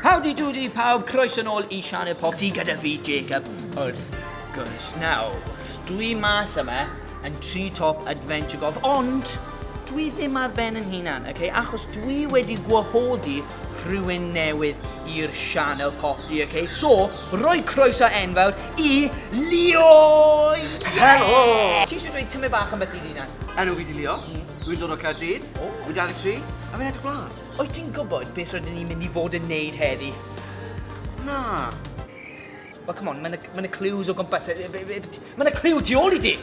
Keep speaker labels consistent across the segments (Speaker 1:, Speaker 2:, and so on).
Speaker 1: Howdy doody pawb, croeso nôl i Sianel Popty gyda fi Jacob wrth gwrs. Nawr, dwi mas yma yn tri top adventure golf, ond dwi ddim ar ben yn hunan, okay? achos dwi wedi gwahoddi rhywun newydd i'r sianel popty, okay? So, roi croeso enfawr i Leo! Yeah! Helo!
Speaker 2: Ti eisiau dweud
Speaker 1: tymu bach am beth i hunan? Enw fi di Leo, mm.
Speaker 2: dwi'n dod o Caerdydd, oh. dwi'n 23, a fi'n edrych blaen. Wyt ti'n gwybod beth
Speaker 1: rydyn ni'n mynd i fod yn neud heddi? Na. Wel, come on, mae'n y, ma clues o gwmpas. Mae'n y clue tu ôl i ti!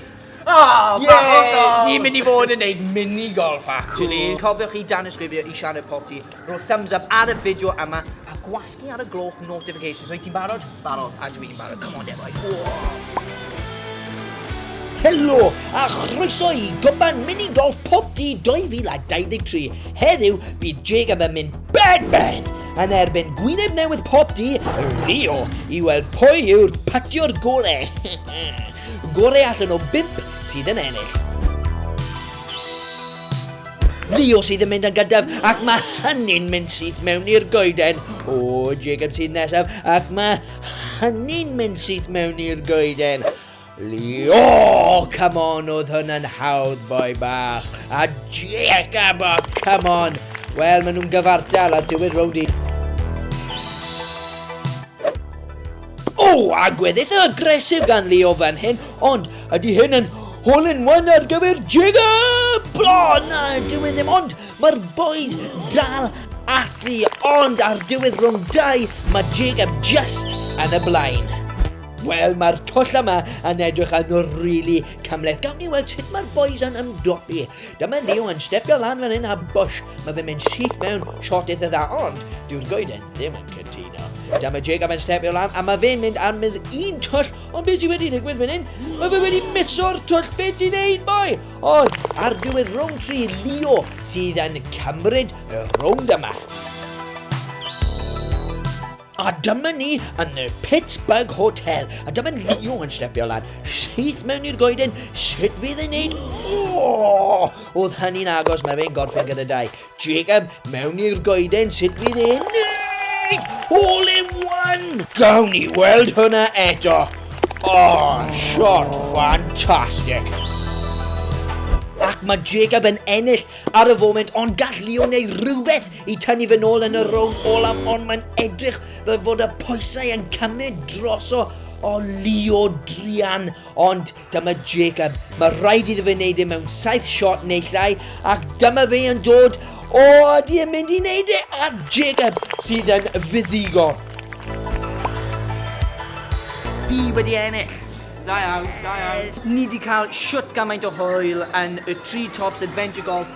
Speaker 1: Oh,
Speaker 2: yeah. Ni'n
Speaker 1: mynd i fod yn neud mini golf, actually. Cool. Cofiwch chi dan ysgrifio i Sianed Potti. Rho thumbs up ar y fideo yma a gwas Ni
Speaker 3: ar y gloch notifications. Wyt ti'n barod? Barod. A dwi'n barod. Come on, Defoy. Helo a chroeso i Goban Mini Golf Pop D 2023. Heddiw, bydd Jacob yn mynd bed bed yn erbyn gwyneb newydd Pop D Rio i weld pwy yw'r patio'r gore. gore allan o bimp sydd yn ennill. Leo sydd yn mynd yn gyntaf ac mae hynny'n mynd syth mewn i'r goeden. O, Jacob sydd nesaf ac mae hynny'n mynd syth mewn i'r goeden. Leo, come on, oedd hwnna'n hawdd boi bach. A Jacob, oh, come on. Wel, maen nhw'n gyfartal ar diwedd rownd i. O! Agwedd eitha agresif gan Leo fan hyn, ond ydy hyn yn hole in one ar gyfer Jacob? O na, dyw e ddim, ond mae'r boys dal ati, ond ar diwedd rhwng dau, mae Jacob just yn y blaen. Wel, mae'r twll yma yn edrych yn rili really cymleth. Gawn ni weld sut mae'r boys yn ymdopi Dyma Leo yn stepio lan fan hyn a bwsh, mae fe'n mynd syth mewn shot eitha dda, ond dyw'r goeden ddim yn cytuno. Dyma Jacob yn stepio lan a mae fe'n mynd ar mydd un twll, ond beth sy'n wedi digwydd fan hyn? Mae fe wedi miso'r twll, beth ti'n neud boi? Ond ar diwedd rownd tri, Leo sydd yn cymryd y rownd yma. A dyma ni yn y Pittsburgh Hotel, a dyma Leo yn stepio lan, syth mewn i'r goeden, sut fydd e'n neud? Oh! Oedd hynny'n agos, mae fe'n gorffen gyda dau. Jacob, mewn i'r goeden, sut fydd e'n neud? All in one! Gawn ni weld hwnna eto. Oh, shot fantastic! Ac mae Jacob yn ennill ar y foment, ond gall Leo neu rhywbeth i tynnu fy nôl yn y rownd olaf, ond mae'n edrych fel fod y pwysau yn cymryd droso o Leo Drian, ond dyma Jacob. Mae rhaid iddo fe wneud e mewn saith shot neu llai, ac dyma fe yn dod. O, ydy e'n mynd i wneud e? A Jacob sydd yn fuddigo.
Speaker 1: Fi wedi ennill. Da iawn,
Speaker 2: da iawn. Ni wedi
Speaker 1: cael siwt gymaint o hwyl yn y Tree Tops Adventure Golf